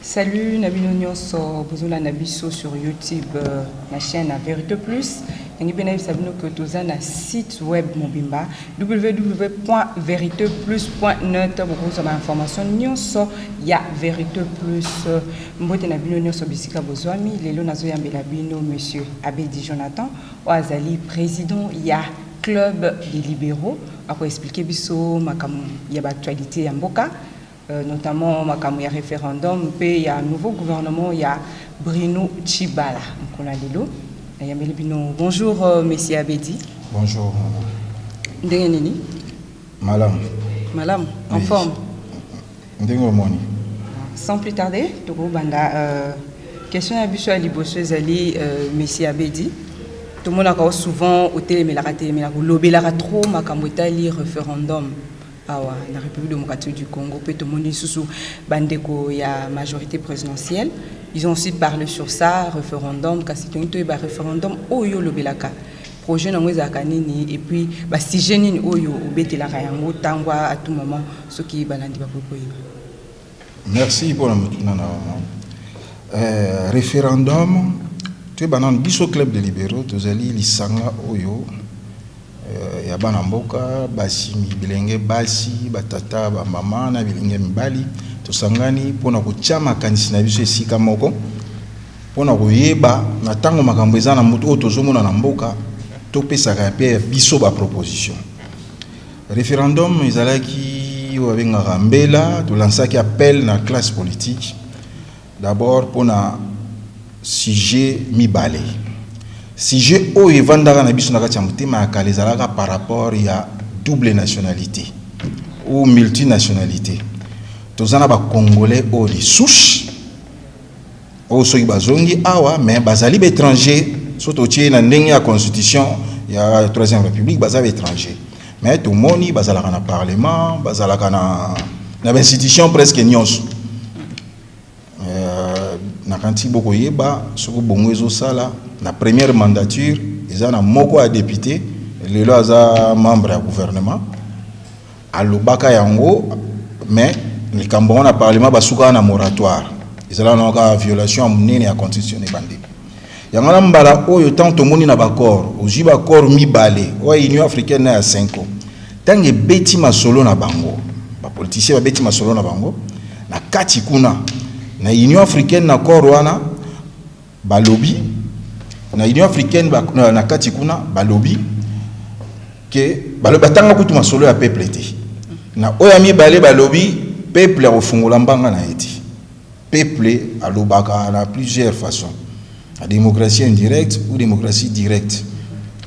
Salut Nabino Nyonso, Bozola Nabiso sur YouTube, euh, ma chaîne à Vérité Plus. Yangi pe nayebisa bino que toza na site web mobimba www.veriteplus.net bokozwa ba information nyonso ya Vérité Plus. Mbote na bino nyonso bisika bozwami, lelo nazoyambela bino monsieur Abedi Jonathan, oyo azali president ya club des libéraux akoexplike biso makambo ya baactualité ya mboka euh, notamment makambo ya référendum mpe ya nouveau gouvernement ya Bruno Tshibala mokolo ya lelo nayambeli bino bonjour euh, monsieur Abedi bonjour ndenge nini Malamu. Malamu, en forme. Ndenge omoni. Sans plus tarder, tokobanda euh, question ya biso ya liboso ezali euh, Messi Abedi. tomonaka o souvent otelemelaka telemelaka olobelaka trop makambo etali référendum awa na république démocratique du congo mpe tomoni lisusu bandeko ya majorité présidentielle ils ont aussi parlé sur ça référendum kasi tongi toyeba référendum oyo olobelaka projet nango ezalaka nini et puis ba sujet nini oyo obetelaka yango tango à tout moment soki balandi bakoki koyeba merci mpona motuna na wana euh, référendum toyeba nano biso club de libéraux tozali lisanga oyo euh, ya bana mboka basi bilenge basi batata bamama na bilenge mibali tosangani mpona kotya makanisi na biso esika moko Mpo na koyeba na ntango makambo eza na moto oyo tozomona na mboka, topesaka mpe biso ba proposition. Referendum ezalaki oyo babengaka mbela, tolansaki appel na classe politique d'abord mpo na sujet mibale sujet oyo evandaka na biso na kati ya motema ya kala ezalaka par rapport ya double nationalité ou multinationalité toza na bacongolais oyo lisusu oyo soki bazongi awa mais bazali baétranger so totie na ndenge ya constitution ya troisième république baza baétranger mais tomoni bazalaka na parlement bazalaka na na bainstitution presque nyonso euh, nakanisi bokoyeba soki bongo ezosala na première mandature eza na moko ya député lelo aza membre ya gouvernement Alobaka yango mais likambo yango na parlement basukaka na moratoire ezalaka nango kaka violation ya monene ya constitution ebandeli yango na mbala oyo ntango tomoni na baccord ozwi baccord mibale oyo union africaine na ya cinco ntango ebeti masolo na bango bapolitisien babeti masolo na bango na kati kuna na union africaine na accord wana Balobi na Union africaine ba, na, na kati kuna balobi ke balobi batanga kutu masolo ya peuple te. Na oya mibale balobi peuple akofungola mbanga na ye te. Peuple alobaka na plusieurs façons. La démocratie indirecte ou démocratie directe.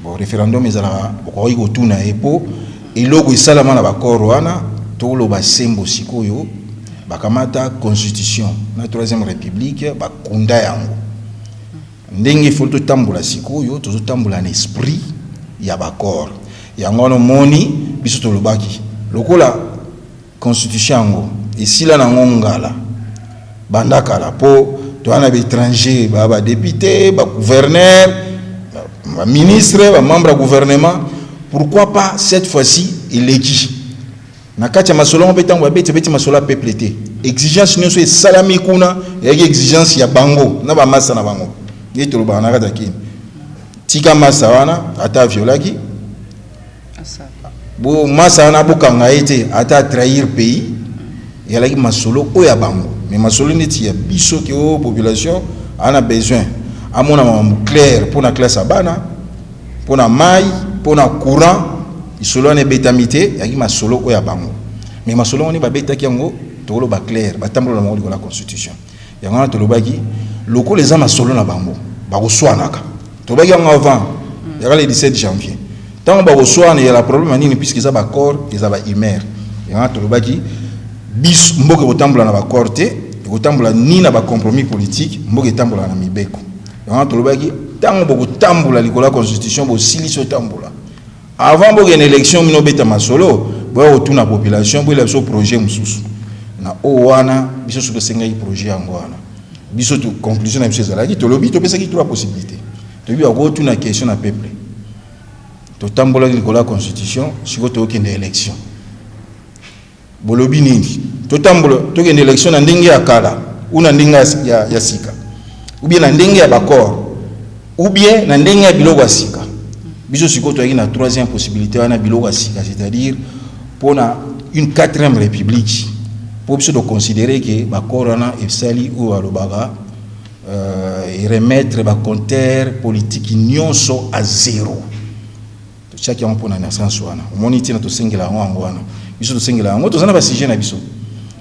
Bon, référendum ezalaka bokoki kotuna ye po Eloko esalama na ba corps wana, toloba sembo sikoyo, bakamata constitution na troisième republique bakunda yango ndenge ifo totambola sikoyo tozotambola na esprit ya baccord yango wana omoni biso tolobaki lokola Constitution yango esila na ngo ngala banda kala po toza na baetranger ba badepute ba gouverneur ba ministre ba membre ya gouvernement pourquoi pas cette fois-ci eleki na kati ya masolo yango mpe ntango babeti beti masolo ya peuple te exigence nyonso esalami kuna eyaki exigence ya bango na bamasa na bango ye tolobaka na kati ya kini tika masa wana ata aviolaki bo masa wana bokanga ye te ata atrahir pays ezalaki masolo oyo ya bango mais masolo neti ya biso ke o oh, population ana besoin amona makambo claire mpo na classe ya bana mpo na mai mpo na courant lisolo wana ebetami te ezalaki masolo oyo ya bango mais masolo wana babetaki yango tokoloba claire batambola na bango likolo ya constitution Yango wana tolobaki lokola eza masolo na bango bakoswanaka, tolobaki yango avant yaka le 17 janvier ntango bakoswana eyala problème ya nini puisque eza baaccord eza baimere yango wana tolobaki biso mboka ekotambola na baaccord te ekotambola ni na bacompromis politique mboka etambolaka na mibeko yango wana tolobaki ntango bokotambola likolo ya constitution bosilisi otambola Avant bokende election mino beta masolo boya kotuna population boyela biso projet mosusu na oyo wana biso soki tosengaki projet yango wana biso conclusion na biso ezalaki tolobi topesaki trois possibilité toyebi bakotuna question na peuple totambolaki likolo ya constitution sikoyo tokokende election Bolobi nini? Totambola tokende election na ndenge ya kala ou na ndenge ya, ya sika ou bien na ndenge ya baccord ou bien na ndenge ya biloko ya sika. Biso sikoyo toyaki na troisième possibilité wana biloko ya sika, c'est-à-dire mpo na une quatrième république mpo biso toconsidere ke baccord wana esali oyo alobaka euh, remettre bacompteur politiki nyonso à zéro totiaki yango mpo na naissance wana omoni ntina tosengela yango yango wana biso tosengela yango toza na basujet na biso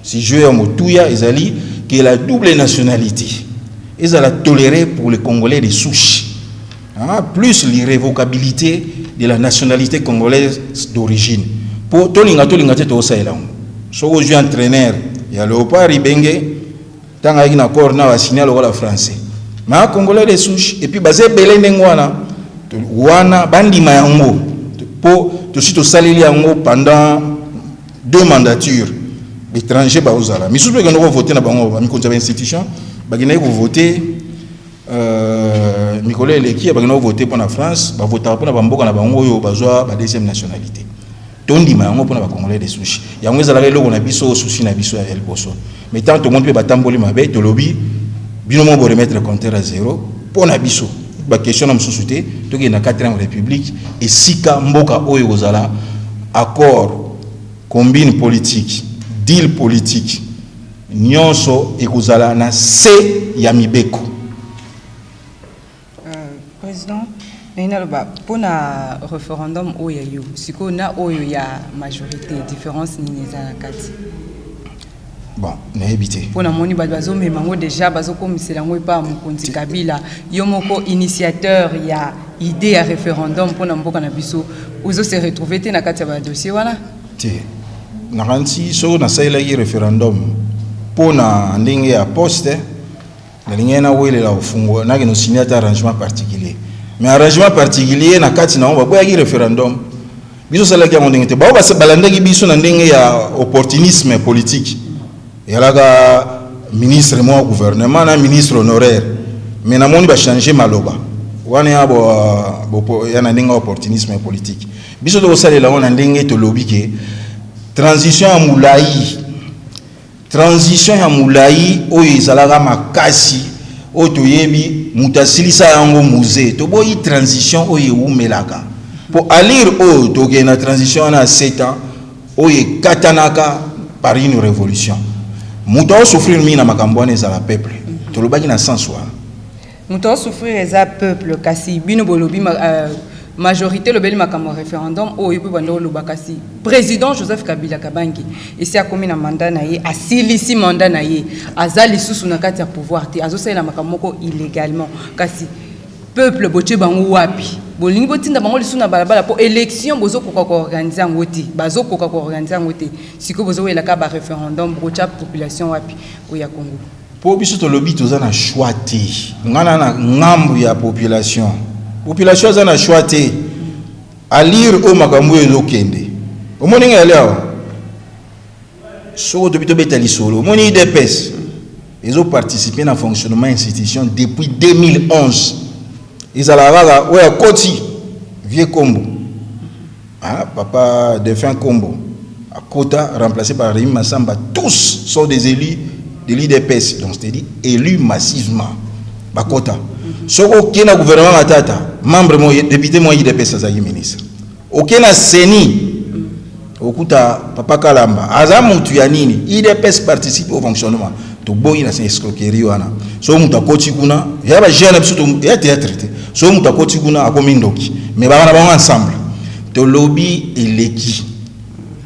sujet ya motuya ezali ke la double nationalité ezala toléré pour le congolais de souche ah, plus l'irrévocabilité de la nationalité congolaise d'origine mpo tolinga tolinga te tokosalela yango soki ozwi entraîneur ya léopard ibenge Tanga yaki na corps na basinya lokola français ma congolais de souche epuis baza ebele ndenge wana wana bandima yango mpo tosi tosaleli yango pendant deux mandatures baétranger baozala misusu mpe ekendaki kovote na bango bamikonzi ya bainstitution bakendaki kovote euh, mikolo eleki bakendaki kovote mpo na france bavotaka mpo na bamboka na bango oyo bazwa ba deuxième nationalité tondima yango mpona ba congolais de souche yango ezalaka eloko na biso susi na biso ya liboso mais tant tomoni mpe batamboli mabe tolobi bino moko boremettre compteur ya zero mpo na biso bakestion na mosusu te tokende na 4 république esika mboka oyo ekozala accord combine politique deal politique nyonso ekozala na se ya mibeko President, nalingi naloba mpo na referendum oyo ya yo sikoyo na oyo ya majorité difference nini eza na kati? Bon, nayebi te. Mpo namoni bato bazomema yango deja bazokomisela yango epai ya mokonzi Kabila, yo moko initiateur ya idée ya referendum mpo na mboka na biso, ozo se retrouver te na kati ya ba dossier wana? Te, nakanisi soki nasalelaki referendum mpo na ndenge ya poste nalingaki nawelela kofungola nakende osinya ata arrangement particulier mais arrangement particulier na kati na yango baboyaki référendum biso osalaki yango ndenge te bao balandaki biso na ndenge ya opportunisme politique eyalaka ministre mwa gouvernement na ministre honoraire mais namoni bachange maloba wana ya ya na ndenge ya opportunisme politique biso tokosalela yango na ndenge tolobi ke transition ya molai Transition ya mulayi oyo ezalaka makasi oyo toyebi mutu asilisa yango musee toboyi transition oyo ewumelaka po allure oyo tokende na transition wana ya 7 ans oyo ekatanaka par une revolution mutu azo souffrir mingi na makambo wana ezala peuple tolobaki na sens wana Moto a souffrir eza peuple kasi bino bolobi euh, majorité lobeli makambo ya référendum oyo yo mpe banda oloba kasi président joseph kabila kabangi esi akomi na mandat na ye asilisi mandat na ye aza lisusu na kati ya pouvoir te azosalela makambo moko illégalement kasi peuple botie bango wapi bolingi botinda bango lisusu na balabala mpo élection bozokoka koorganize yango te bazokoka koorganize yango te sikoyo bozowelaka baréférendum bokotya population wapi oyo ya congo Po biso tolobi toza na choix te. Nga na na ngambu ya population. Population aza na choix te. A lire oyo makambo oyo ezo kende. Omoni nga yali awa? Soko tobi tobeta lisolo. Omoni IDPS ezo participer na fonctionnement institution depuis 2011. Ezalaka kaka oyo akoti vieux kombo. Ah, papa Défunt Kombo, Akota, remplacé par Rémi Massamba, tous sont des élus de l'IDPS, donc c'est-à-dire élus massivement. Bakota. Soko oke na gouvernement Matata, membre mo député mo IDPS azali ministre. Oke na CENI, okuta papa Kalamba, aza mutu ya nini? IDPS participe au fonctionnement. toboyi na escroquerie wana soki moto akoti kuna ya ba jeune biso ya théâtre te soki moto akoti kuna akomi ndoki mais bangana bango ensemble tolobi eleki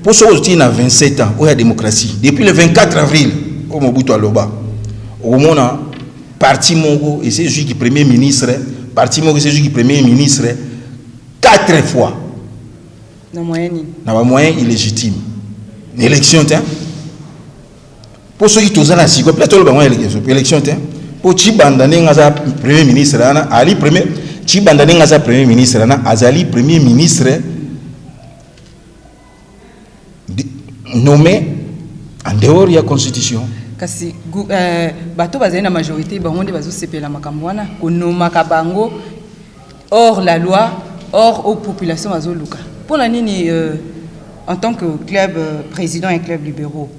mpo soki otii na 27 ans oyo ya démocratie depuis le 24 avril oyo mobutu aloba okomona parti moko esi ezwiki premier ministre parti moko esi ezwiki premier ministre 4 fois na bamoyen illégitime na élection te mpo soki toza na siko mpe toloba yango na élection te mpo cibanda ndenge aza premier ministre wana ali premier cibanda ndenge aza premier ministre wana azali premier ministre nommé en dehors ya constitution kasi euh, bato bazali na majorité bango nde bazosepela makambo wana konomaka bango hors la loi hors aux populations bazoluka pona nini euh, en tant que club euh, président et club libéraux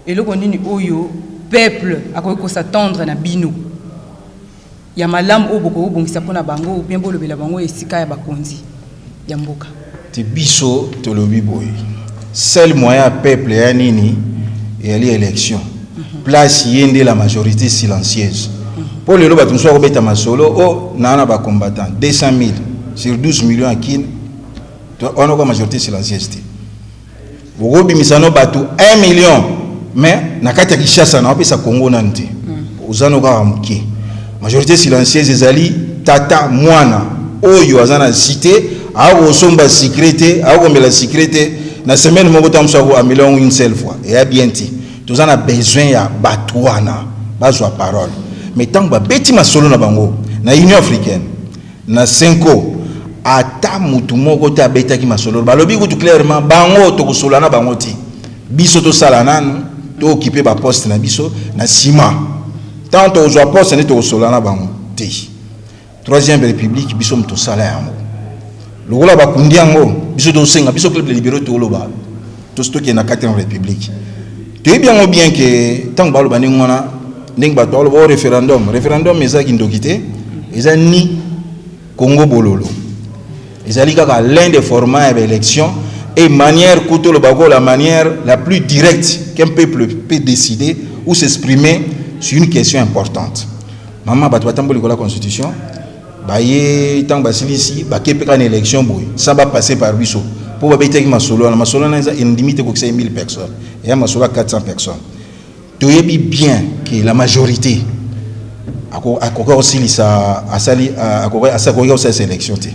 eloko nini oyo peuple akoki kosatendre na bino ya malamu oyo bokobongisa mpona bango bien bolobela bango esika ya bakonzi ya mboka Te biso tolobi boye seul moyen ya peuple ya nini eyali election place ye nde la majorité silencieuse mpo lelo bato mosusu bakobeta masolo o oh, naa na bacombattant 200 000 sur 12 millions ya kine wana oka majorité silencieuse te Bokobimisa no batu 1 million mais na kati ya Kinshasa na wapesa Congo nanu te. Ozano kaka mukie. Majorité silencieuse ezali tata mwana oyo aza na cite akosomba secret te akomela secret te na semaine moko ta musa ko amela yango une seule fois eya bien te. Toza na besoin ya batu wana bazwa parole mais tango babeti masolo na bango na Union africaine Na cenco ata mutu moko te abetaki masololo balobi kutu clairement bango tokosolola na bango te biso tosala nanu to occupe ba poste na biso na sima tango tokozua poste nde tokosolola na bango te troisième republique biso mutu tosala yango lokola bakundi yango biso tosenga biso club de libero toloba tosi tokende na 4 république toyebi yango bien ke ntango baloba ndenge wana ndenge bato baloba o oh, référendum référendum eza kindoki te eza ni congo bololo ezali kaka l'un des formats ya baélection et manière kutu oloba ko la manière la plus directe qu'un peuple peut décider ou s'exprimer sur une question importante mama bato batamboli kola constitution baye ntango basilisi bake mpe kaka na election boye sans ba passer par biso mpo babetaki masolo wana masolo wana eza endimi te kokisa ye 1000 personnes eya masolo ya 400 personnes toyebi bien que la majorité akoki kosilisa asali akoki kosalisa election te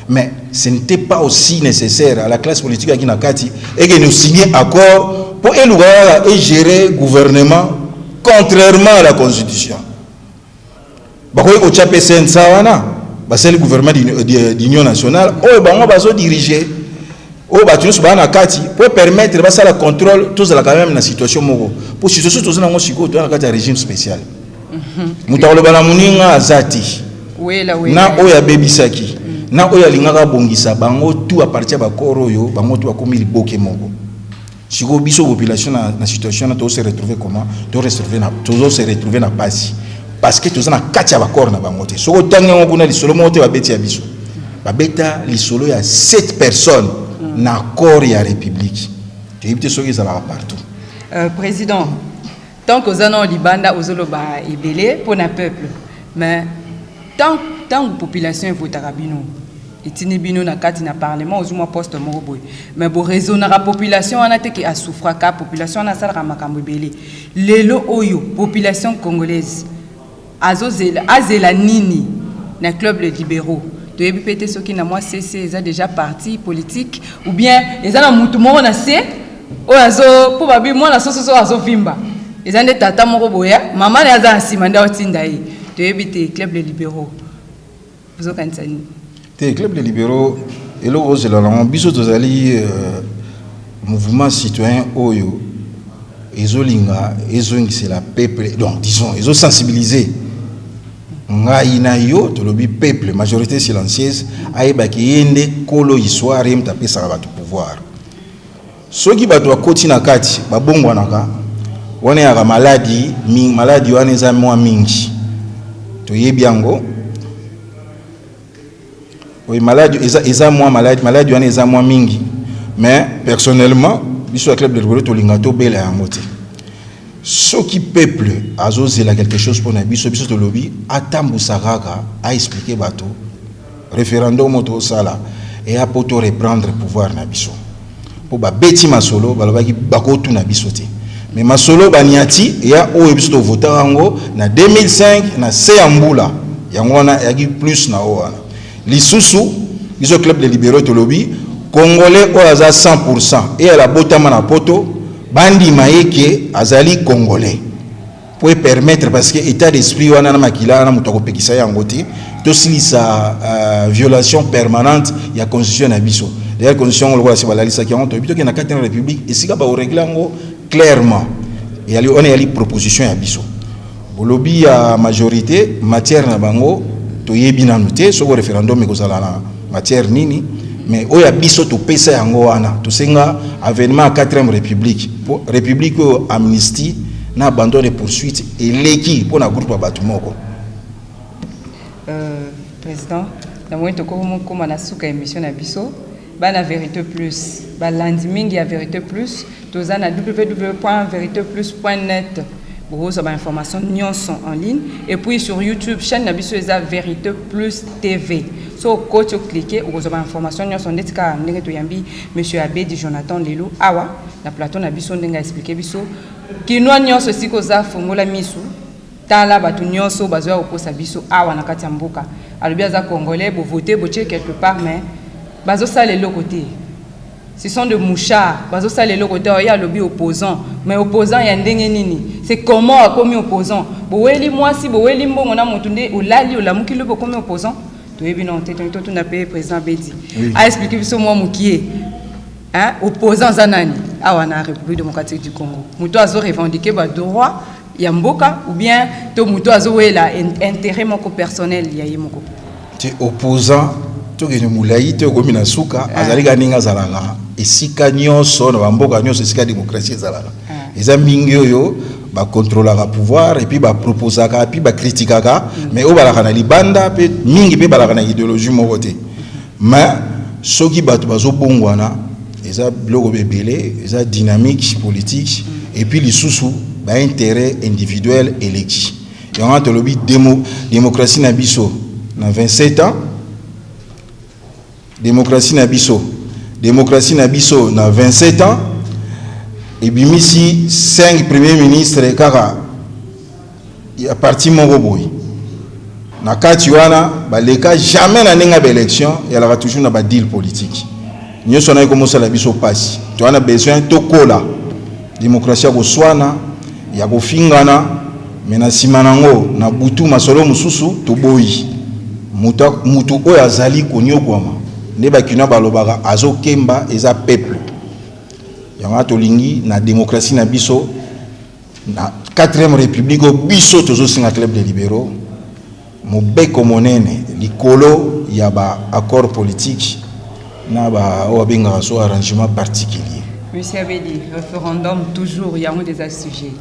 mais ce n'était pas aussi nécessaire à la classe politique yaki na kati eke nous signe accord mpo eluka kaka egérer gouvernement contrairement à la constitution Bakoki kotya mpe CNSA wana basali gouvernement d'union nationale oyo bango bazo diriger oyo bato nyonso baa na kati mpo permettre basala contrôle tozalaka meme na situation moko mpo situation toza nango sikoyo toza na kati ya régime spécial mhm. moto akoloba na moninga aza te na oyo abebisaki na oyo alingaka abongisa bango tu apartir bakoro oyo bango tu bakomi liboke moko sikoyo biso population na, na situation na tozose retrouve comment tozose retrouve na pasi parce que toza na kati ya bacor na bango te soki otangi yango kuna lisolo moko te babeti ya biso babeta lisolo ya 7 personnes na corps ya république toyebi te soki ezalaka partout euh, président Tant que oza nao libanda ozoloba ebele mpo na peuple mais tant ntango population evotaka bino etindi bino na kati na parlement ozwi mwa poste moko boye mais boraisonnaka population wana te ke asouffraka population wana asalaka makambo ebele lelo oyo population congolaise Azo zela azela nini na club les liberaux toyebi pe te soki na mwa CC eza dejà parti politique ou bien eza na mutu moko na se oyo azo po babi mwana soso soki azo vimba eza nde tata moko boya mama na ye aza na nsima nde aotinda ye toyebi te club les liberaux ozokanisa nini te club de libéraux eloko ozela nango biso tozali euh, mouvement citoyen oyo ezolinga ezongisela peuple donc disons ezosensibiliser ngai na yo tolobi peuple majorité silencieuse ayebaki ye nde kolo histoire ye moto apesaka bato pouvoir Soki bato bakoti na kati babongwanaka, wana eyaka maladi mingi. Maladi wana eza mwa mingi, toyebi yango. Oui, maladi eza, eza mwa maladi, maladi wana eza mwa mingi, mais personnellement biso ya club de rigolo tolinga tobela yango te. Soki peuple azozela quelque chose mpo na biso, biso tolobi atambusaka kaka, aexplike bato Referendum oyo tozosala eya mpo to reprendre pouvoir na biso mpo babeti masolo balobaki bakotuna biso te me masolo baniati eya oyo biso tovota yango na 2005 na se ya mbula yango wana eyaki plus na oyo wana lisusu biso club de libéraux tolobi congolais oyo aza 100 pourcent eyala abotama na poto bandima ye ke azali congolais po e permettre parce que état d'esprit wana na makila wana moto akopekisa yango te tosilisa uh, violation permanente ya constitution na biso d'ailleurs constitution yango lokola se balalisaki yango toyebi tokende na kati na république esika baoregle yango clairement eyali wana eyali proposition ya biso bolobi ya majorité matière na bango toyebi nanu te soko référendum ekozala na matière nini mais oyo ya biso topesa yango wana tosenga avènement ya 4e république mpo république oyo amnistie na abandon de poursuite eleki mpo na groupe ya bato moko euh, président na moi tokokoma na suka émission na biso bana vérité plus balandi mingi ya vérité plus Toza na www.veriteplus.net bokozwa ba information nyonso en ligne et puis sur YouTube chaîne na biso eza Verite Plus TV so okoti oklike okozwa ba information nyonso ndeti kaka ndenge toyambi monsieur Abedi Jonathan lelo awa na plateau na biso ndenge aexplike biso kinois nyonso esika oza fongola misu tala bato nyonso bazoya kokosa biso awa na kati ya mboka alobi aza congolais bovote botie quelque part mais bazosala eloko te Ce sont de mouchards. Bazo sala eloko te oya lobi opposant. Mais opposant ya ndenge nini? C'est comment akomi opposant? Boweli mwasi, boweli mbongo na mutu nde olali olamuki lobi okomi opposant? Toyebi non te tongi totuna pe président Bedi. Oui. A expliquer biso mwa mukie. Hein? Opposant za nani? Awa na République démocratique du Congo. Mutu azo revendiquer ba droits ya mboka ou bien to moto azowela intérêt moko personnel ya ye moko te opposant tokende molai te okomi na suka ah. azali kaka ndenge azalaka esika nyonso na bamboka nyonso esika démocratie ezalaka ah. eza mingi oyo bakontrolaka pouvoir epuis baproposaka epuis bakritikaka mm. mais oyo balaka na libanda mpe mingi mpe balaka na idéologie moko te mais soki bato bazobongwana eza biloko bebele eza dynamique politique et puis lisusu ba intérêt individuel eleki yango tolobi demo, démocratie na biso na 27 ans démocratie na biso démocratie na biso na 27 ans ebimisi 5 premier ministre kaka ya parti moko boye na kati wana baleka jamais na ndenge ya baélection yalaka toujours na badeal politique nyonso wana ekomosala biso mpasi toza na besoin tokola demokrasi ya koswana ya kofingana me na nsima na yango na butu masolo mosusu toboyi moto oyo azali konyokwama nde bakina balobaka azokemba eza peuple yango tolingi na demokrasi na biso Na 4e Republique oyo biso tozosenga Club des Liberaux mobeko monene likolo ya ba accords politiques na ba oyo abengaka so arrangement particulier. Monsieur Abedi, referendum toujours yango des sujets.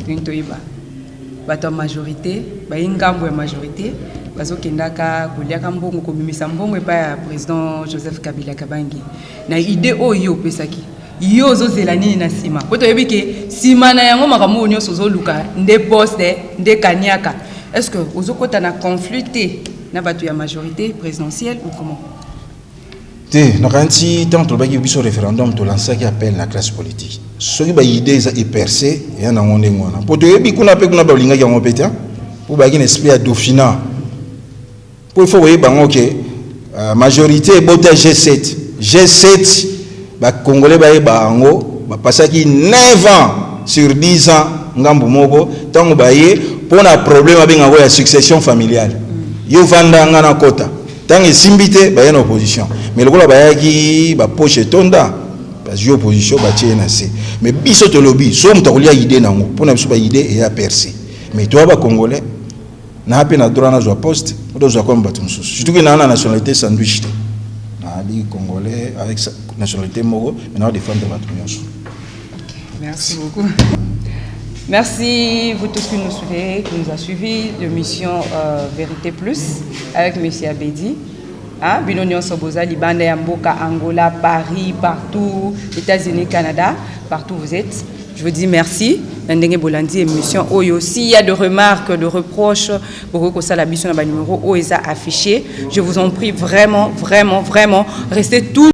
Nini toyeba? Bato ya majorité, bayi ngambo ya majorité bazokendaka koliaka mbongo kobimisa mbongo epai ya président Joseph Kabila Kabangi na idée oyo opesaki yo ozozela nini na nsima po toyebi ke nsima na yango makambo oyo nyonso ozoluka nde poste nde kaniaka est ce que ozokota na conflit te na bato ya majorité présidentielle ou comment te nakanisi ntango tolobaki biso référendum tolansaki appel na classe politique soki baide eza eperce eya nango ndenge wana mpo toyebi kuna mpe kuna balingaki yango mpe te mpo bayaki na esprit ya dauphina Po il faut koyeba ngo ke uh, majorite ebota G7 G7 ba congolais bayeba yango bapasaki 9 ans sur 10 ans ngambu moko ntango baye mpo na problème abengako ya succession familiale mm. yo vanda nga na kota ntango esimbi te baye na opposition mais lokola bayaki bapoche etonda bazwi opposition batie ye na se mais biso tolobi so moto akolia idée nango mpo na biso baidée eya perse mais toya bacongolais na pe na droit nazwa poste tozwa comme bato mosusu surtout ke naa na nationalité sandwich te naali congolais avec nationalité moko mais naa défendre bato nyonso merci beaucoup Merci vous tous qui nous suivez, qui nous a suivis de Mission euh, Vérité Plus avec Monsieur Abedi. Hein, bino nionso boza libanda ya mboka Angola, Paris, partout, États-Unis, Canada, partout vous êtes. Je vous dis merci. na ndenge bolandi émission oyo s'il y a de remarques de reproches bokoki kosala biso na banimero oyo eza affiché je vous en prie vraiment vraiment vraiment restez tout